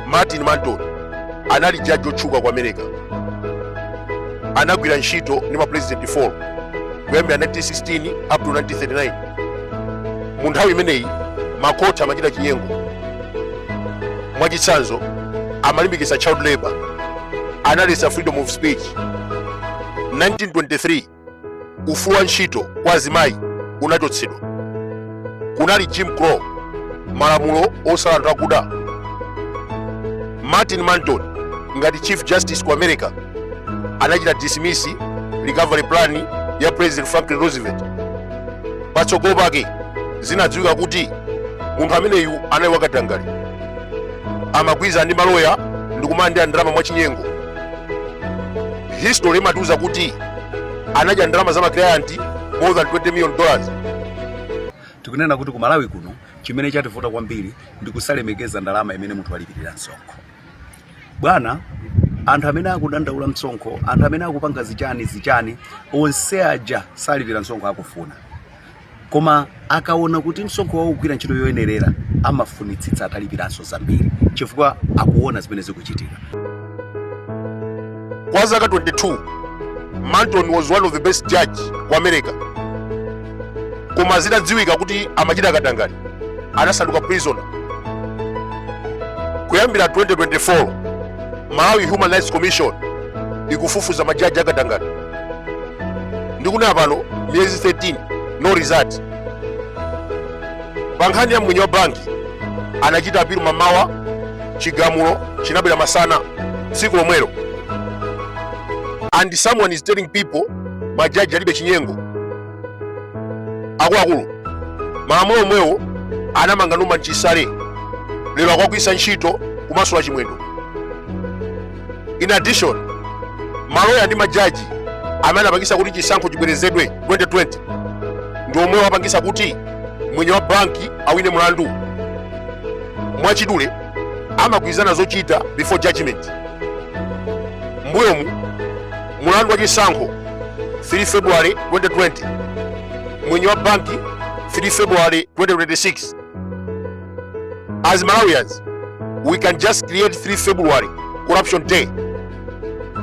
martin manton anali jaji wotchuka ku america anagwira ntchito ndi mapulezidenti 4 kuyambira 1916 up to 1939 mu nthawi imeneyi makoti amachita chinyengo mwachitsanzo amalimbikitsa child labor analetsa freedom of speech 1923 ufulu wa ntchito kwa azimayi unachotsedwa kunali jim crow malamulo osala anthu akuda martin manton ngati chief justice ku america anachita dismiss recovery plan ya president franklin roosevelt patsogolo pake zinadziwika kuti munthu ameneyu anali wakatangale amagwirizana ndi maloya ndikumalandira ndalama mwachinyengo history imatiuza kuti anadya ndalama za maklianti more than 20 million dollars tikunena kuti ku malawi kuno chimene chativuta kwambiri ndi kusalemekeza ndalama imene munthu walipirira msonkho bwana anthu amene akudandaula msonkho anthu amene akupanga zichani zichani onse aja salipira msonkho akufuna koma akaona kuti msonkho wawo ukugwira ntchito yoyenerera amafunitsitsa atalipiranso zambiri chifukwa akuona zimene zikuchitika kwa zaka 22 manton was one of the best judge ku america koma zitadziwika kuti amachita katangale anasanduka prisoner kuyambira 2024 malawi human rights commission ikufufuza majaji akatangale ndikunena pano miyezi 13 no result pa nkhani ya mmwenye wa banki anachita apilu mamawa chigamulo chinabwera masana tsiku lomwelo and someone is telling people majaji alibe chinyengo akuluakulu malamulo omwewo anamanga norman chisale lero akuwagwiritsa ntchito kumasula chimwendo in addition maloya ndi majaji amene anapangisa kuti chisankho chibwerezedwe 2020 ndi omwewo apangisa kuti mmwenye wa banki awine mlandu mwachidule amagwirizana zochita before judgment mbuyomu mlandu wa chisankho 3 february 2020 mmwenye wa banki 3 february 2026 as malawians we can just create 3 february corruption day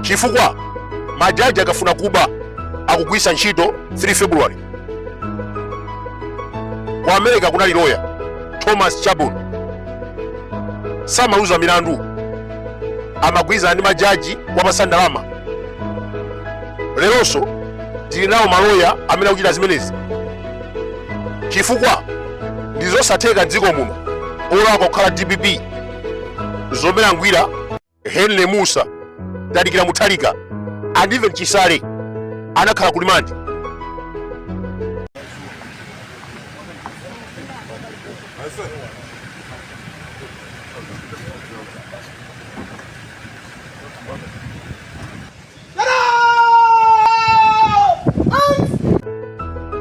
chifukwa majaji akafuna kuba akugwiritsa ntchito 3 february ku america kunali loya thomas chadbourne samaluza milandu amagwirizana ndi majaji kuwapatsa ndalama leronso tili nawo maloya amene akuchita zimenezi chifukwa ndi zosatheka dziko muno olakwa kukhala dpp zoberangwira henry musa tadikira mutharika and even chisale anakhala kulimandi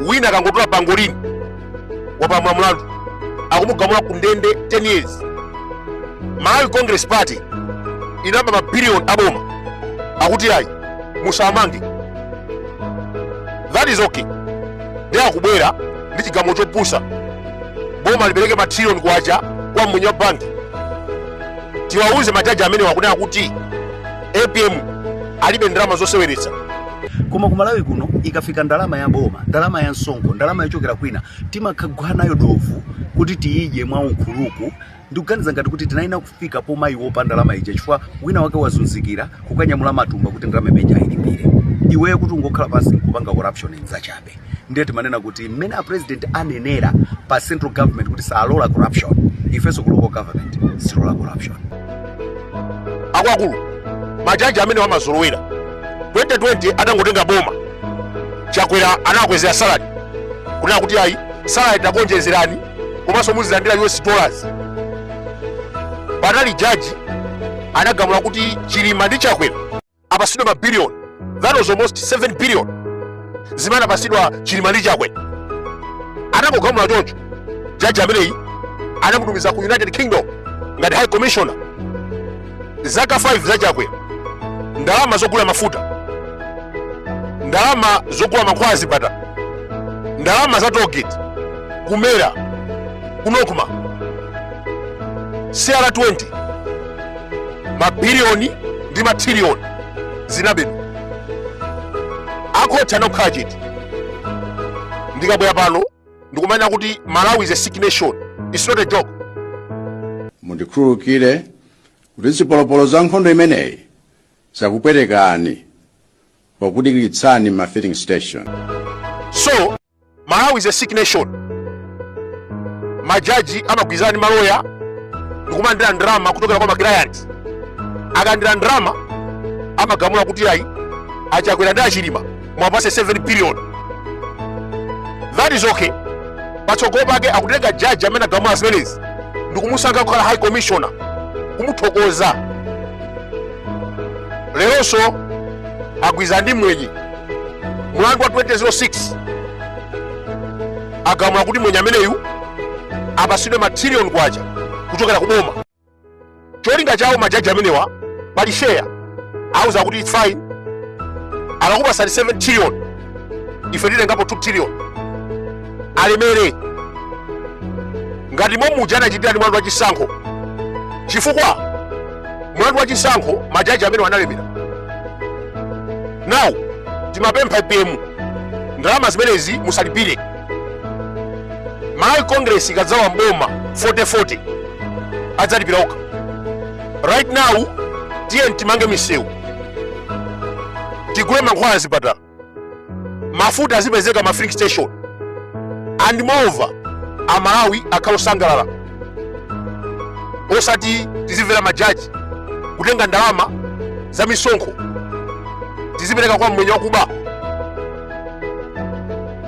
wina akangotola pangolini wapamula mlandu akumugamula ku ndende 10 years malawi congress party inaba mabiliyoni aboma akuti ayi musamange that is okay ndiye akubwera ndi chigamulo chopusa boma lipereke matrilioni kwacha kwa mmwenye wa banki tiwauze majaji amenewa kunena kuti apm alibe ndalama zoseweretsa koma ku malawi kuno ikafika ndalama ya boma ndalama ya msonkho ndalama yochokera kwina timakagwa nayo dovu kuti tiyidye mwa unkhuluku ndikuganiza ngati kuti tinayiwala kufika pomayiwopa ndalama ija chifukwa wina wake wazunzikira kukanyamula matumba kuti ndalama imene ija ayilipire iweyo kuti ungokhala pansi nkupanga corruption nzachabe ife ndiye timanena kuti mmene a president anenera pa central government kuti salola corruption ifenso ku local government sitilola corruption akuluakulu majaji amenewa amazolowera 2020 atangotenga boma chakwera anawakwezera salary kunena kuti ayi salary takuonjezerani komanso muzilandira us dollars panali jaji anagamula kuti chilima ndi chakwera apasidwe ma billion that was almost 7 billion zimene anapasidwa chilima ndi chakwera atagamula choncho jaji ameneyi anamutumiza ku united kingdom ngati high commissioner zaka 5 za chakwera ndalama zogulira mafuta ndalama zogula mankhwala azipatala ndalama za toll gate ku mera ku nocma cr20 mabiliyoni ndi matriliyoni zinabedwa akhoti anakhala chete ndikabwera pano ndikumanena kuti malawi is a sick nation its not a joke mundikhululukire kuti zipolopolo za nkhondo imeneyi zakupwetekani pokudikiritsani mma filling station so malawi is a sick nation majaji amagwirizana ndi maloya ndikumalandira ndalama kuchokera kwa maklayant akalandira ndalama amagamula kuti ayi achakwera ndi achilima muwapase 7 billion that is okay patsogolo pake akutenga jaji amene agamula zimenezi ndikumusankha kukhala high commissioner kumuthokoza leronso agwirizana ndi mmwenye mlandu wa 2006 agamula kuti mwenye ameneyu apasidwe matrilioni kwacha kuchokera ku boma cholinga chawo majaji amenewa pali share auza kuti it's fine akakupasani 7 trillion ife titengapo 2 trillion alemere ngati momuja anachitira ndi mlandu wa chisankho chifukwa mlandu wa chisankho majaji amenewa analemera now timapempha APM ndalama zimenezi musalipire malawi congress ikadzawa mboma 4040 adzalipira okha right now tiyeni timange misewu tigule mankhwala zipatala mafuta azipezeka ma filling station and moreover amalawi akhala osangalala osati tizimvera majaji kutenga ndalama za misonkho tizipereka kwa mmwenye wakuba